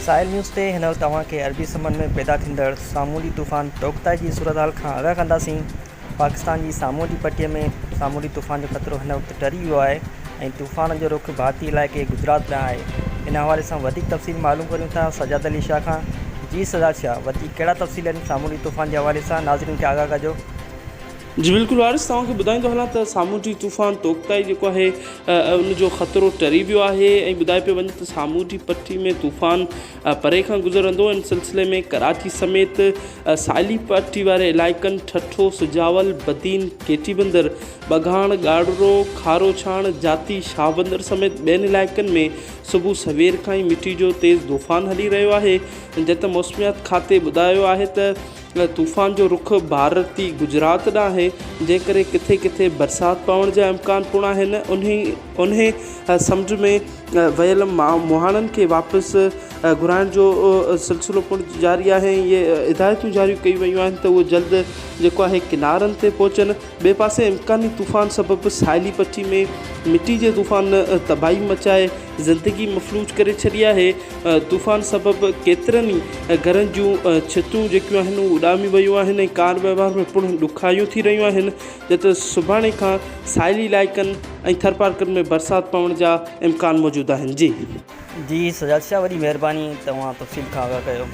ساحل news تي هن وقت اوهان کي عربي سمنڊ ۾ پيدا ٿيندڙ سامونڊي طوفان توڪتائي جي صورتحال کان آگاهه ڪنداسين. پاڪستان جي سامونڊي پٽي ۾ سامونڊي طوفان جو خطرو هن وقت ٽري ويو آهي ۽ طوفان جو رخ ڀارتي علائقي گجرات ڏانهن آهي. ان حوالي سان وڌيڪ تفصيل معلوم ڪريون ٿا سجاد علي شاهه کان جي سجاد شاهه وڌيڪ ڪهڙا تفصيل آهن سامونڊي طوفان جي حوالي سان ناظرين کي آگاهه ڪجو. جي بلڪل وارث توهان کي ٻڌائيندو هلان ته سامونڊي طوفان توڪتائي جيڪو آهي ان جو خطرو ٽري ويو آهي ۽ ٻڌايو پيو وڃي ته سامونڊي پٽي ۾ طوفان پري کان گذرندو ان سلسلي ۾ ڪراچي سميت ساحلي پٽي واري علائقن ٺٽو سجاول بدين ڪيٽي بندر ٻگهاڻ ڳاڙهرو کاروڇاڻ جاتي شاهبندر سميت ٻين علائقن ۾ صبح سوير کان ئي مٽي جو تيز طوفان هلي رهيو آهي جت موسميات کاتي ٻڌايو آهي ته طوفان جو رخ ڀارتي گجرات ڏانهن آهي، جنهن ڪري ڪٿي ڪٿي برسات پوڻ جا امڪان پڻ آهن، انهي سمجهه ۾ ويل مهاڻن کي واپس گهرائڻ جو سلسلو پڻ جاري آهي ۽ اهي هدايتون جاري ڪيون ويون آهن ته اهي جلد جيڪو آهي ڪنارن تي پهچن، ٻئي پاسي امڪاني طوفان سبب ساحلي پٽي ۾ مٽي جي طوفان تباهي مچائي. زندگي مفلوج ڪري ڇڏي آهي، طوفان سبب ڪيترن ئي گهرن جون ڇتون جيڪيون آهن اهي اڏامي ويون آهن ۽ ڪار وهنوار ۾ پڻ ڏکيائيون ٿي رهيون آهن جڏهن ته سڀاڻي کان ساحلي علائقن ۽ ٿرپارڪن ۾ برسات پوڻ جا امڪان موجود آهن جي. جي سجاد شاھ وڏي مھرباني ته اوھان تفصيل کان آگاھ ڪيو.